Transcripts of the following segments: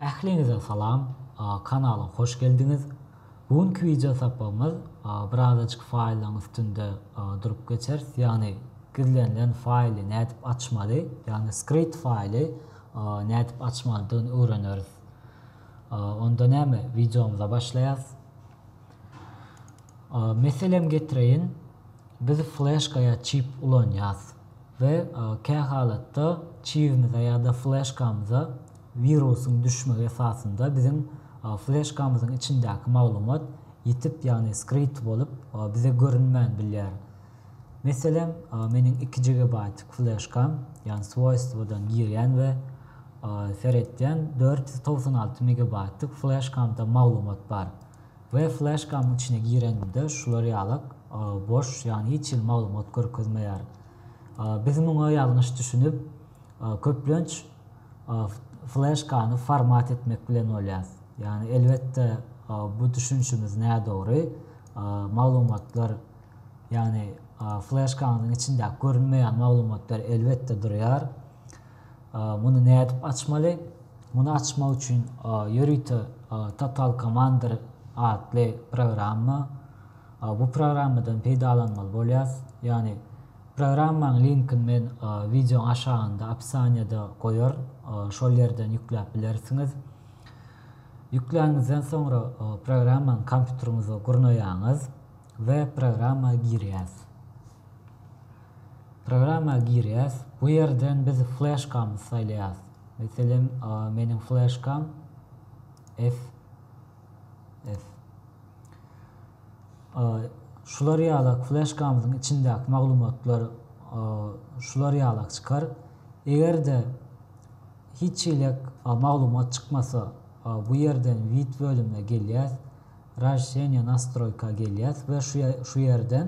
Ähliňize salam, kanala hoş geldiňiz. Bu günki wideo sapagymyz birazajyk faýllaryň üstünde durup geçeris, ýagny gizlenilen faýly nädip açmaly, ýagny skript faýly nädip açmalydygyny öwreneris. Onda näme, wideomyza başlaýas. Meselem getireýin, biz fleşka ýa çip ulanýas we kä halatda çibimize ýa-da fleşkamyza wirusyň düşmegi esasynda biziň fleşkamyzyň içindäki maglumat ýitip ýagny skrity bolup bize görünmän bilýär. Meselem meniň iki gigabaýtlyk fleşkam ýagny swoýstwodan girýän we seretýän dört ýüz togsan alty megabaýtlyk fleşkamda maglumat bar. We flashkam içine girenimde şular ýalak boş ýagny hiç hili maglumat görkezmeýär. Biz muňa ýalňyş düşünip köplenç flashkany format etmek bilen bolýas. Ýagny elbetde bu düşünişimiz nädogry maglumatlar ýagny flashkaňyzyň içindäki görünmeýän maglumatlar elbetde durýar. Muny nädip açmaly? Muny açmak üçin ýörite Total Commander atly programma bu programmadan peýdalanmaly bolýas. Ýagny programmaň linkini men wideoň aşagynda opisaniýada goýar şol ýerden ýükläp bilersiňiz. Ýükläniňizden soňra programmany kompýuteriňize gurnaýaňyz we programma girýäs. Programma girýäs. Bu ýerden biz fleşkamyzy saýlaýas. Meselem, meniň fleşkam FF. Şular ýalak fleşkamyzyň içindäki maglumatlar şular ýalak çykar. Eger-de hiç hilek maglumat çykmasa, bu ýerden Wid bölümine gelýäs. Razşişeniýe nastroýka gelýäs we şu ýerden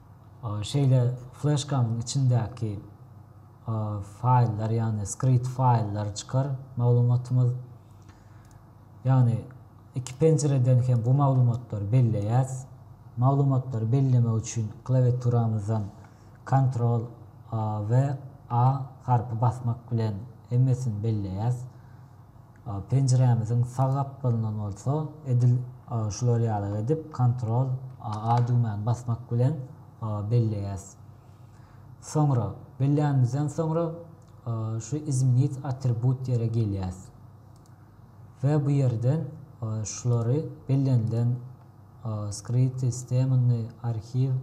Şeýle fleşkanyň içindäki faýllar, ýagny skript faýllary çykar maglumatymyz. Ýagny iki penjireden hem bu maglumatlary belleýäs. Maglumatlary bellemek üçin klawiaturamyzdan Ctrl we A harpy basmak bilen hemmesini belleýäs. Penjirämiziň sag gapdalyndan bolsa edil şular ýaly edip Ctrl A düwmäni basmak bilen belleýäs. Soňra bellänimizden soňra şu Izmenit atribut ýere gelýäs we bu ýerden şulary bellenilen Skryty, Stemny, Arhiw,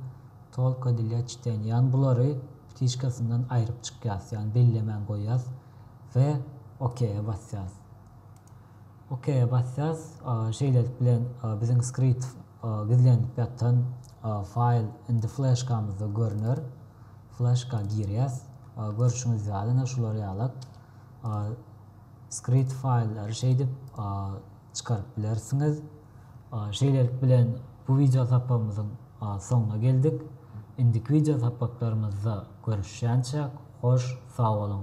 Tolko dlýa çiteniýa ýagny bulary ptiçkasyndan aýryp çykýas ýagny bellemän goýýas. we OK-ä basýarys. OK-ä basýarys. Şeýlelik bilen biziň skript gizlenip ýatan faýl indi fleşkamyzda görner. Fleşka girýäs. Görşüňiz ýaly, ine şular ýalak skript faýllary şeýdip çykaryp bilersiňiz. Şeýlelik bilen bu wideo sapagymyzyň soňuna geldik. Indiki wideo sapaklarymyzda görüşýänçäk hoş sag boluň.